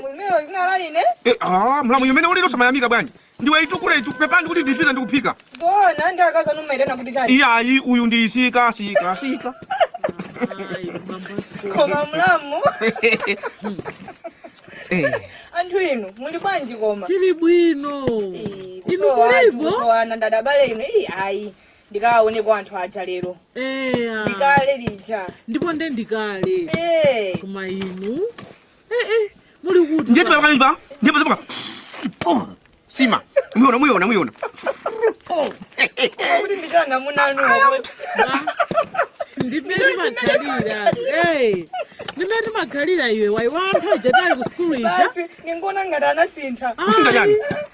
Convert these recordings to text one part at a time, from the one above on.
Mwemewa zina la ine. Eh, ah, mlamu yemene ulilo simuyamika bwanji. Ndiwe itukule itu pepani kuti ndipita ndikuphika. Ona ndi akazi numa ita nakuti chani. Iya ayi uyu ndi sika sika sika. Koma mlamu. Eh. Anthu inu muli bwanji koma? Tili bwino. Inu kulipo? Kusowana ndadabale inu. Iyi ayi. ndikawaoneko anthu aja lero eya ndikale lija ndipo nde ndikale Eh. koma inu Eh, eh, muli kuti ndiye tipa pamene pa ndiye pazipaka sima muona muona muona kuti ndikanamuona ndi mmene ndimakhalira Eh, ndi mmene ndimakhalira iwe waiwala anthu aja tali ku sukulu ija basi ndingoona ngati anasintha Kusintha chani?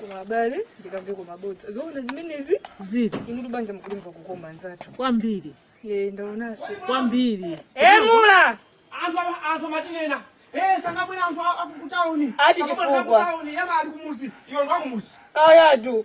koma abale ndikamve kukoma bodza zoona zimenezi zoti inutu banja mukulimva kukoma anzathu kwambiri e ndaonaso kwambiri eh mlamu anthu ama- anthu amatinena eh asanabwere anthu a- akukutauni Ati Akabwera chifukwa. akukutauni iya amene ali kumuzi iwe ndi wakumuzi ayatu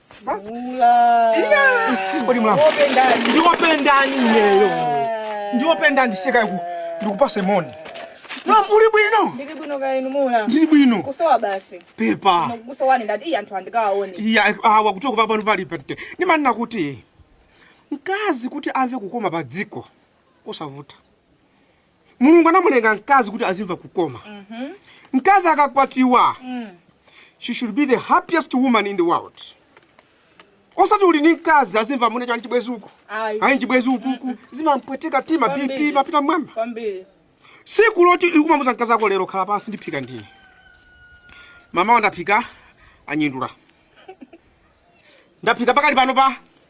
kodi mlamu ndiwoperani ineyo ndiwopa ndiseka iku ndikupatse moni mlamu uli bwino ndili bwino kaya inu mlamu ndili bwino kusowa basi pepani kusowa ndati iyi anthu andikawaone iya awa kuchoka apa pano pali patali ndimanena kuti mkazi kuti amve kukoma pa dziko sikuvuta mulungu anamulenga mkazi kuti azimva kukoma mkazi akakwatiwa she should be the happiest woman in the world osati uli ni mkazi azimva muli ndi chani chibwezi uku Ayi. ayi chibwezi ukuku zimampweteka tima bp Kwambiri. amapita mmwamba kwambiri siku loti kumamuuza mkazi wako lero khala pansi ndiphika ndine mama wandaphika anyindula ndaphika pakali pano pa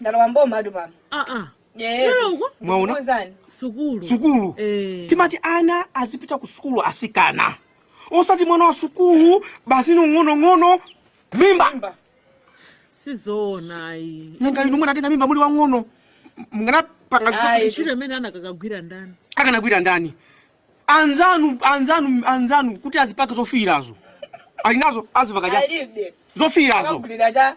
ndalowa m'boma atu pano Ah, ah. Loko? Mwaona? Ndikuuzani. sukulu sukulu Eh. timati ana azipita ku sukulu asikana osati mwana wa sukulu basi ni wang'onong'ono mimba sizoona ayi nanga inu munatenga mimba muli wang'ono mukanapanga Ayi. ntchito imene akanagwira ndani akanagwira ndani anzanu anzanu anzanu kuti azipake zofiirazo ali nazo azipaka alibe zofiirazo Akanagulira cha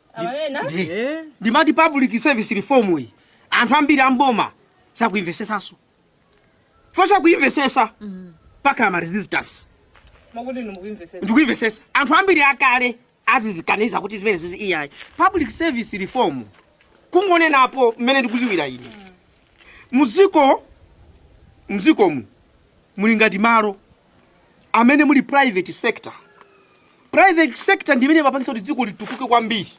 amanena Eh, ndimati public service reform iyi anthu ambiri amboma sakuimvesesaso reform sakuimvesesa pamakhala ma resistance mukuti inu mukuimvesesa ndikuimvesesa anthu ambiri akale akuzikaniza kuti zimenezi izi iyayi public service reform kungonenapo mmene ndikudziwira ine muziko muzikomu muli ngati malo amene muli private sector private sector ndi imene imapangitsa kuti dziko litukuke kwambiri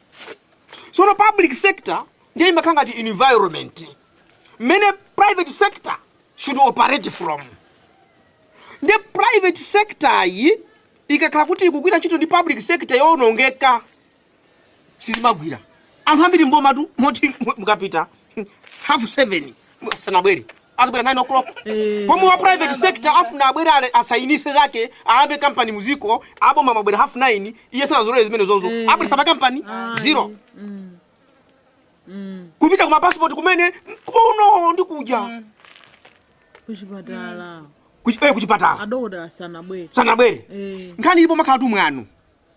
sono public sector ndiye imakhala ngati environment mmene private sector should operate from ndiye private sector yi ikakhala kuti ikugwira ntchito ndi public sector yowonongeka sizimagwira anthu ambiri mbomatu moti mu- mukapita half seven sanabwere azibwera 9 o'clock pomwe wa private sector afuna abwere kale asayinise zake ayambe kampani muziko aboma mabwera half 9 iye sanazolere zimenezozo abweresa bwa kampani zero upita kuma passport kumene kuno ndi kuja kuchipatala Kuchi- eh, kuchipatala adokotala sanabwere sanabwere Eh. nkhani ilipo ikumakhalatu mwanu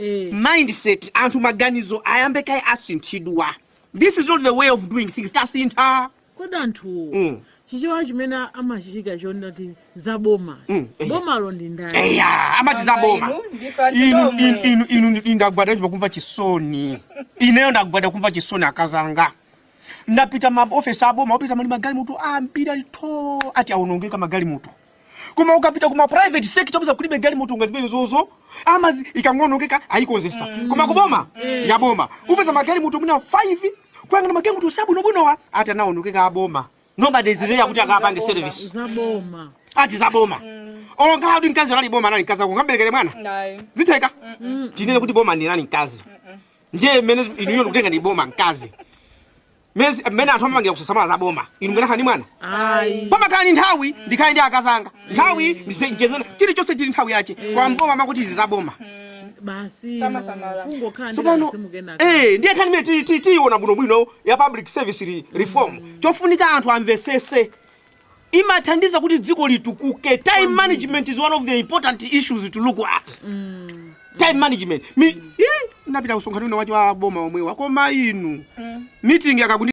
Eh. mindset anthu maganizo ayambe kaye asinthidwa this is not the way of doing things tasintha kodi anthu Mm. chichewa chimenechi amachichita choti ati za boma Mm, eh. bomalo ndi ndani eya amati za boma Inu, ndife anthu inu tomwe. inu- inu inu ndi- ndagwada ndipo kumva chisoni ineyo ndagwada kumva chisoni akazanga ndapita ma ofesi aboma upeza ali magalimoto ambiri alitu ati aonongeka magalimoto koma ukapita kuma private sector upeza kulibe galimoto ngati zimenezozo amazi ikangonongeka ayikonzesa koma kuboma yaboma upeza magalimoto mwina 5 kuyang'ana magalimoto abwinobwinowa ati anaonongeka aboma nobody is there kuti akapange service zaboma ati zaboma olo anali mkazi anali boma anali mkazi ako ungamberekere mwana Nayi. zitheka tinene kuti boma linali mkazi ndiye mmene inuyo mukutenga ndi boma mkazi nzimene anthu amapangira kusasamala za boma inu mkanakhala ndi mwana ayi pomakhala ndi nthawi ndikhale ndi akazanga nthawi ndicheze naye chilichonse chili nthawi yache koma mboma amakuti izi za boma basi Samasamala. kungokhala ndi tsopano kasimu kenaka eh ndiye nkhani imene ti- ti- tiyiona bwinobwino ya public service re- reform chofunika anthu amvesese imathandiza kuti dziko litukuke time management is one of the important issues to look at time management Mi, eh, ndinapita kumsonkhano wina wache wa aboma omwewo koma inu meeting akakundi